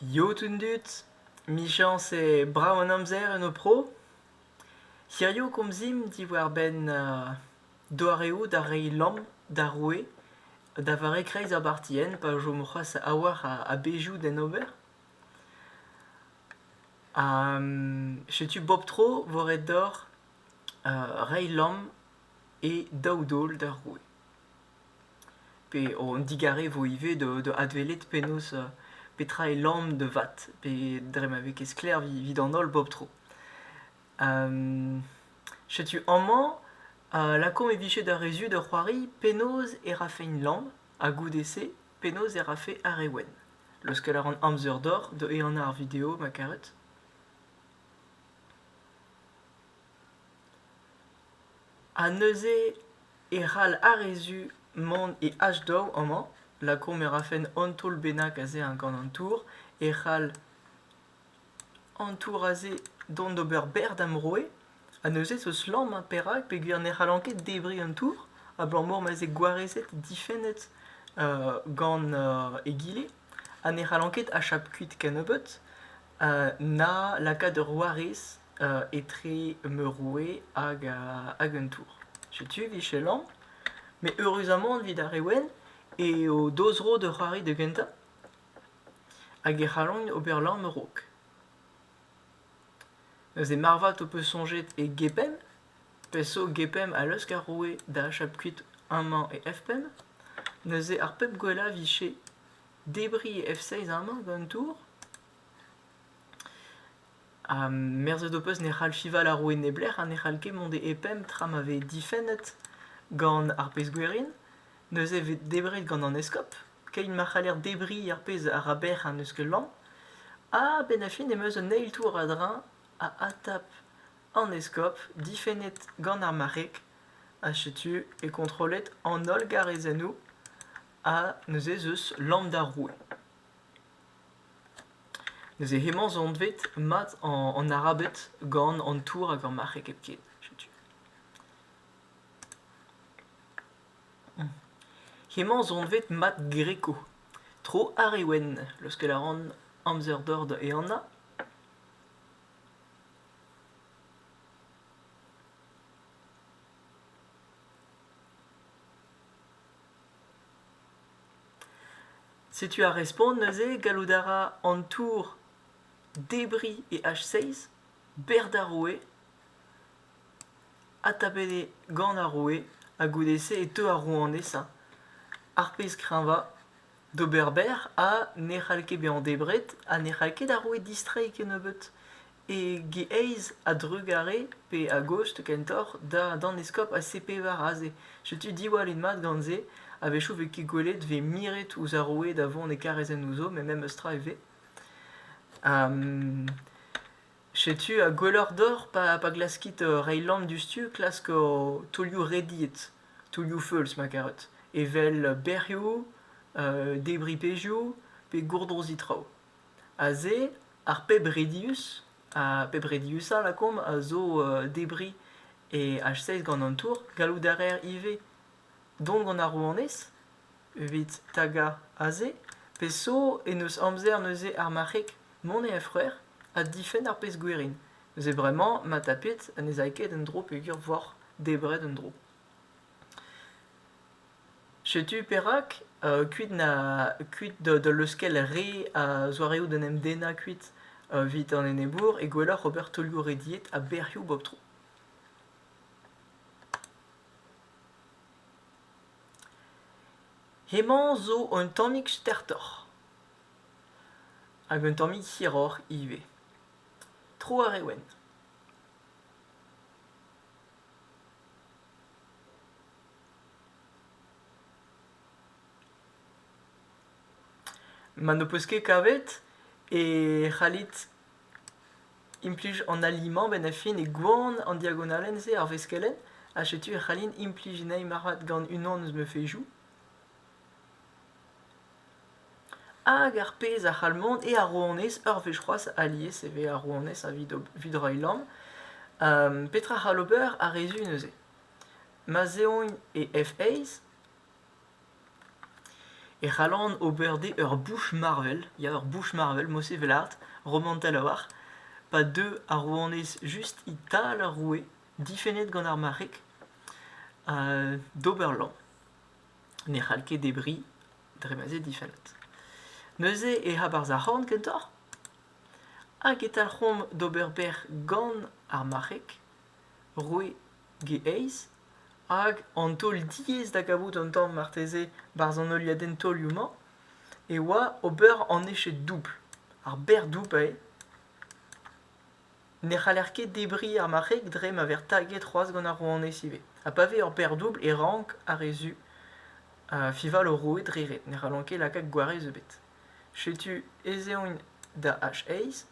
Yod an dud, 'michañs eo brav an amzer en ho pro. Hirio komzimp diwar-benn doareoù da reiñ lamm d'ar roue da vare kreiz ar bartienn pa chom c'hoazh a-walc'h a bezhioù d'en ober. Setu bep tro vo ret deoc'h reiñ lamm e daou daol d'ar roue. pe an digare vo ivez da adwelet penaos petra eo lamm da vat pe dre ma vez ket sklaer evit an holl bep tro. setu amañ lakaomp e vije da rezud ur c'hoari penaos e rafeñ lamm ha goude-se penaos e rafe ar re wenn. Leuskel a ran amzer deoc'h da ehanañ ar video ma karet. Ha neuze e c'hall ar re zu mont e H-daou amañ lakaomp e rafen un taol bennak aze gant an tour e c'hall an tour aze dont d'ober berr da'm roue ha neuze zo slamm ha perak peogwir ne c'hallan ket debriñ an tour abalamour ma veze gwarezet difennet gant egile ha ne c'hallan ket achap kuit kennebeut na lakaat ur warez etre ma roue hag hag un tour. Setu e vichellañ. Met eüruzamant evit ar re wenn eo daou zro da c'hoari da gentañ hag e c'hallan ober lamm a-raok. Neuze marvat ho peus soñjet e gepenn ? Peseurt gepenn a leusk ar roue da achap kuit amañ e F-penn ? Neuze ar pep gwellañ a vije debriñ e F-seizh amañ gant an tour ? Ha merzet ho peus ne c'hall fival ar roue neblec'h ha ne c'hall ket mont e E-penn tra ma vez difennet gant ar pezh-gwerin ? Neuze 'vez debret gant an eskob ? keit ma c'haller debriñ ar pezh a ra bec'h an eskell-lamm. Ha a-benn ar fin em eus un eil tour a-dreñv a adtap an eskob, difennet gant ar marc'heg. Ha setu eo kontrollet an holl garezennoù ha neuze ez eus lamm d'ar roue. Neuze hemañ zo anvet mat an Arabed gant an tour hag ar marc'heg hepken. Setu. Hemañ sonvet Mad Greco, tro ar re wenn, leuskel a ran amzer-dor da ehanañ. Setu ar respont neuze. Gallout a ra an tour debriñ e H6, berr da roue. Adtapet eo gant ar roue ha goude-se e teu ar rouanesa, ar pezh kreñva d'ober berr ha ne c'hall ket bezañ debret ha ne c'hall ket ar roue distreiñ kennebeut e aez a-drugarez pe a-gozh kentoc'h d'an eskob ha sepevar aze. Setu diwallit mat gant se. A-wechoù 'vez ket gwelet 'vez miret ouzh ar roue da vont e karezenn ouzho met memes tra e vez. Setu ha gwelloc'h deoc'h pa glaskit reiñ lamm diouzhtu klask ho taolioù rediet, taolioù feuls ma karet, evel bec'hioù, debriñ pezhioù pe gourdroziñ traoù. Aze ar pep redius, ar pep rediusañ lakaomp a zo debriñ e H6 gant an tour. Gallout a reer ivez dont gant ar rouanez evit tagañ aze, pe so en deus amzer neuze ar marc'heg mont e enfroer ha difenn ar pezh gwerin. Neuze bremañ, ma tapit, ha ne zay ket en dro peogwir voc'h debret en dro. Setu perak, uh, kuit, na, kuit da leuskel re a zoareoù d'en em dennañ kuit evit an enebour e gwelloc'h ober taolioù rediet a bec'hioù bep tro. Hemañ zo un tammig stertoc'h hag un tammig hiroc'h ivez. Tro ar re wenn. Ma n'ho peus ket kavet e c'hallit Implij an alimant benn ar fin e gwan an diagonalenn-se ar veskelenn ha setu e c'hallin implij anezhi marvat gant unan eus ma fezhioù. Hag ar pezh a c'hall mont eo ar rouanez. Ur wech c'hoazh alies e vez ar rouanez evit evit reiñ lamm. Petra c'hall ober ar re zu neuze? Ma 'z eont e F-Aze e c'hallan ober dezhe ur bouch marvel ya ur bouch marvel mod se 'vel art romantel a-walc'h pa deu ar rouanez just e-tal ar roue difennet gant ar marc'heg d'ober lamm ne c'hall ket debriñ dre ma 'z eo difennet neuze ec'h abarzh ar c'horn kentoc'h hag e talc'homp d'ober bec'h gant ar marc'heg roue geeizh hag an taol diaes da gavout an tamm marteze barzh an heuliadenn taolioù-mañ e oa ober an eched doubl ar berr doubl eo ne c'haller ket debriñ ar marc'heg dre ma vez taget c'hoazh gant ar rouanez ivez ha pa vez ur berr doubl e rank ar re zu fival o roue dre ret ne c'hallan ket lakaat gwarez ebet setu ez eont da h-eizh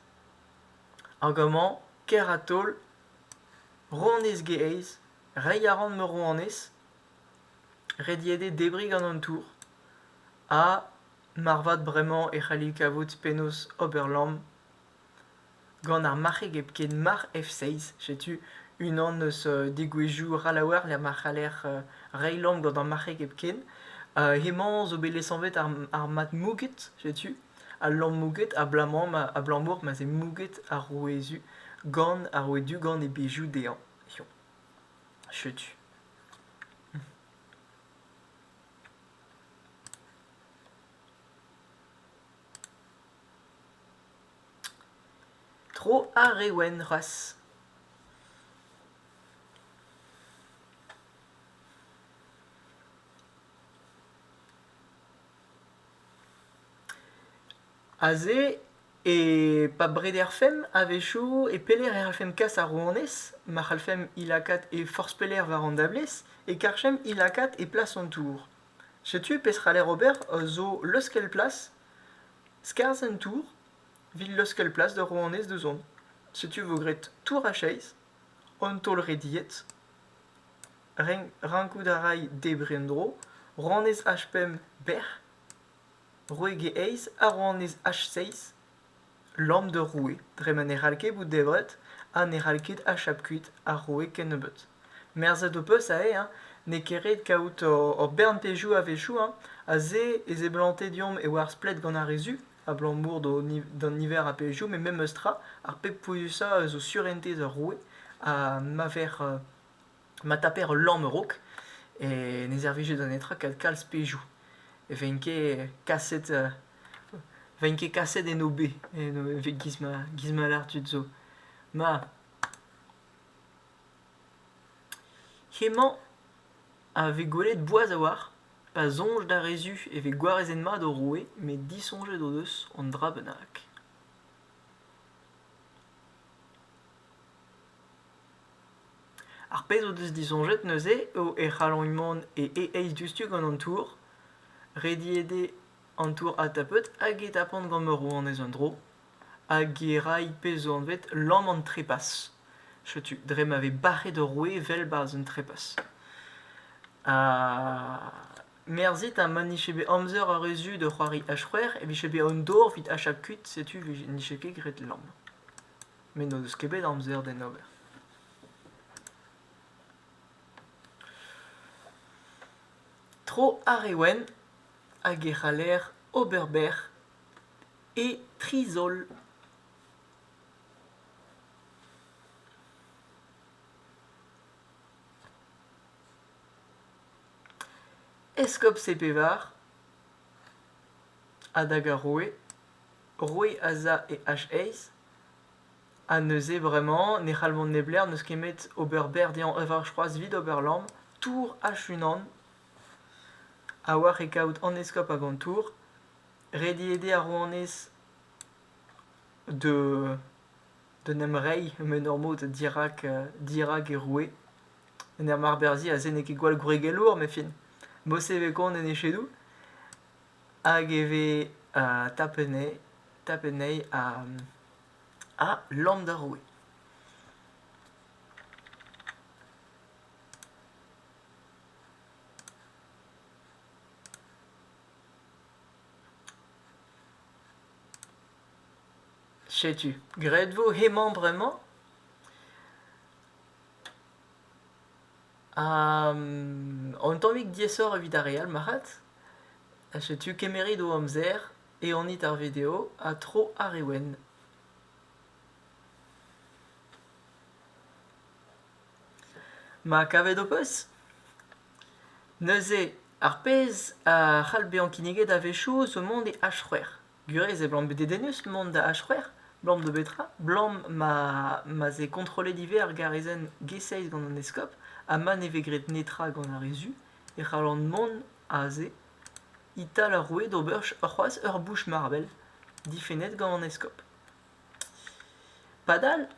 hag amañ kêr-ha-taol Rouanez Gaez, reiñ a ran ma rouanez, rediet eo debriñ gant an tour, ha marvat bremañ e c'halli kavout penaos ober lamm gant ar marc'heg hepken marc'h F6. Setu unan eus degouezhioù Ralaouer lec'h ma c'haller reiñ lamm gant ar marc'heg hepken. hemañ zo bet lesanvet ar mat mouget setu. Al lammoùged abalamour ma'z eo mouget ar rouezu gant ar rouedugan e bezioù dezhañ. Setu. Tro ar re wenn c'hoazh. Aze, e pa brederfemp a-wechoù, e pelec'h e c'hallfemp kas ar rouanez ma c'hallfemp he lakaat he forzh pelec'h war an dablez e karfemp he lakaat e plas an tour. Setu peseurt c'haller ober zo leuskel plas, skarzh an tour, evit leuskel plas d'ur rouanez da zont. Setu e vo graet tour a-chaez, an taol rediet. Rankout a ray debriñ en-dro rouanez H5 bec'h, roeg e eizh ha rouanez H6 lamm d'ur roue dre ma ne c'hall ket bout debret ha ne c'hall ket achap kuit ar roue kennebeut. Merzet ho peus aze n'eo ket ret kaout hor bern pezhioù a-wechoù aze e seblante deomp e oa ar splet gant ar re zu abalamour d'an niver a pezhioù met memes tra ar pep pouezusañ eus ho surentez ur roue ha ma vec'h ma taper ul lamm a-raok e ne servije da netra ket kalz pezhioù. E vein ket kaset e vein ket kaset en obe evit giz ma giz ma lâr tud zo. Ma, hemañ a vez gwelet boas a-walc'h pa soñj d'ar re zu e vez gwarezenn mat o roue met disoñjet o deus an dra bennak. Ar pezh o deus disoñjet neuze eo e c'hallont mont e e-eizh diouzhtu gant an tour, rediet eo an tour adtapout hag e tapont gant Morvanez un dro, hag e ray pezh zo anvet lamm an trepas. Setu, dre ma vez bac'het ur roue evel 'barzh un trepas. Ha merzhit ha ma nije bet amzer ar re zu da c'hoari H-c'hwec'h e vije bet an dor evit hachañ kuit, setu 'vije- nije ket graet lamm. met n'o deus ket bet amzer d'en ober. Tro ar Ewen hag e c'haller ober berr e tri zaol. Eskob Sepevar, a dag ar roue, roue Asa e H-Aes, ha neuze bremañ ne c'hall mont neblec'h, n'eus kemet ober berr dezhañ, enfin c'hoazh evit ober lamm, tour H-unan, ha war e kaout an eskob hag an tour, rediet eo ar rouanez de d'en em reiñ m'en ur mod dirak dirak e roue, en ur marberzhiñ aze n'eo ket gwall gwregelour, met fin, bosevet kont en echedoù. hag e vez tapennet tapenn anezhi ha lamm d'ar roue. Setu, graet vo hemañ bremañ? Un tammig diaesoc'h evit ar re all marc'had. Setu kemeret ho amzer, eonit ar video ha tro ar re wenn. Ma kavet ho peus? Neuze, ar pezh a c'hall bezañ kinniget a-wechoù zo mont e H-c'hwec'h. Gurez e blam bet dedennus mont da H-c'hwec'h, blam da betra? Blam ma ma vez kontrollet ivez ar garezenn G6 gant an eskob ha ma ne vez graet netra gant ar re zu e c'hallan mont aze e-tal ar roue d'ober c'hoazh ur bouch marvel difennet gant an eskob. Padal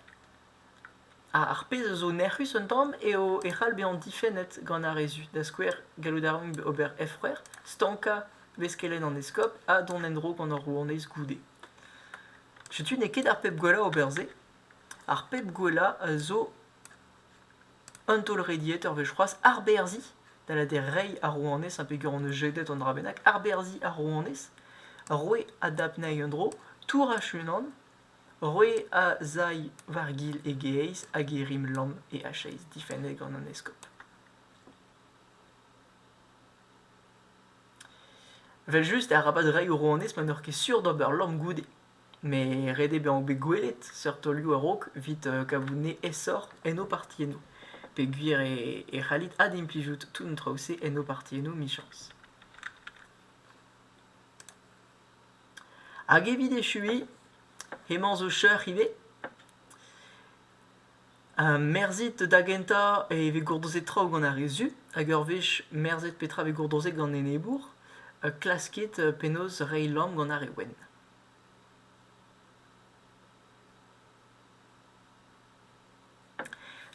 Ar pezh a zo nec'hus un tamm eo e c'hall bezañ difennet gant ar re zu, da skouer gallout a ran ober efc'hwer, stankañ beskelenn an eskob ha dont en-dro gant hor rouanez goude. Setu n'eo ket ar pep gwellañ ober se. Ar pep gwellañ a zo un taol rediet ur wech c'hoazh arberzhiñ, da lâret reiñ ar rouanez ha peger hon eus jedet an dra bennak, arberzhiñ ar rouanez, roiñ a dap anezhi en-dro, tourañ hec'h-unan Roe a zay war-gil e gaezh hag e rim lamm e achais difennet gant an eskob. Evel-just, arabat reiñ o rouanez ma n'eur ket sur d'ober lamm goude. Met ret eo bezañ bet gwelet seurt taolioù a-raok evit kavout ne aesoc'h en ho partiennoù, peogwir e c'hallit adimplijout tout an traoù-se en ho partiennoù, michañs. Hag evit echuiñ, hemañ zo cheuc'h ivez. Ha merzit da gentañ e vez gourdozet traoù gant ar re zu, hag ur wech merzet petra vez gourdozet gant enebour, klaskit penaos reiñ lamm gant ar re wenn.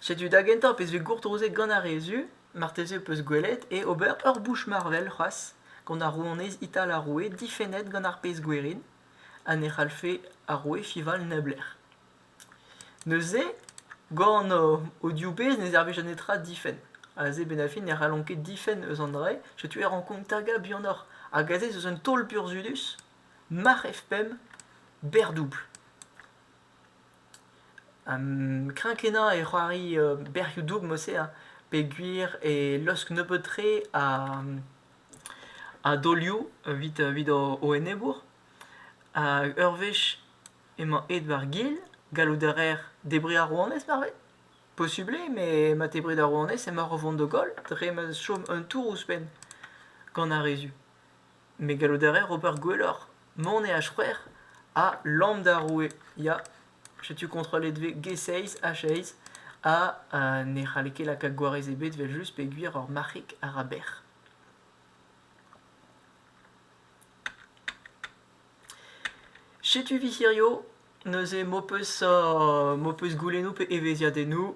Setu da gentañ pezh vez gourtozet gant ar re zu, marteze ho peus gwelet eo ober ur bouch marvel c'hoazh gant ar rouanez ital ar roue difennet gant ar pezh gwerin ha ne c'hallfe ar roue fival neblec'h. Neuze, gant o div bezh ne servij netra difenn. Aze bennafi ne c'hallont ket difenn eus an dra-se, setu e rankomp tagañ buanoc'h. Hag aze ez eus un taol burzhudus, marc'h F5, berr-doubl. kreñv-kenañ e c'hoari berrioù-doug mod-se ha peogwir e laosk nebeut-tre a daolioù evit o enebour. Ur wech emañ aet war-gil, gallout a raer debriñ ar rouanez marvet. Posubl eo met ma tebrit ar rouanez emaoc'h o vont da goll dre ma chom un tour ouzhpenn gant ar re zu. Me gallout a raer ober gwelloc'h, mont e H-c'hwec'h ha lamm d'ar roue, ya. Setu kontrollet 'vez G6, H6 ha ne c'halle ket lakaat gwarez ebet 'vel-just peogwir ur marc'hig a ra bec'h. Setu 'vi hirio neuze m'ho peus m'ho peus goulennoù pe evezhiadennoù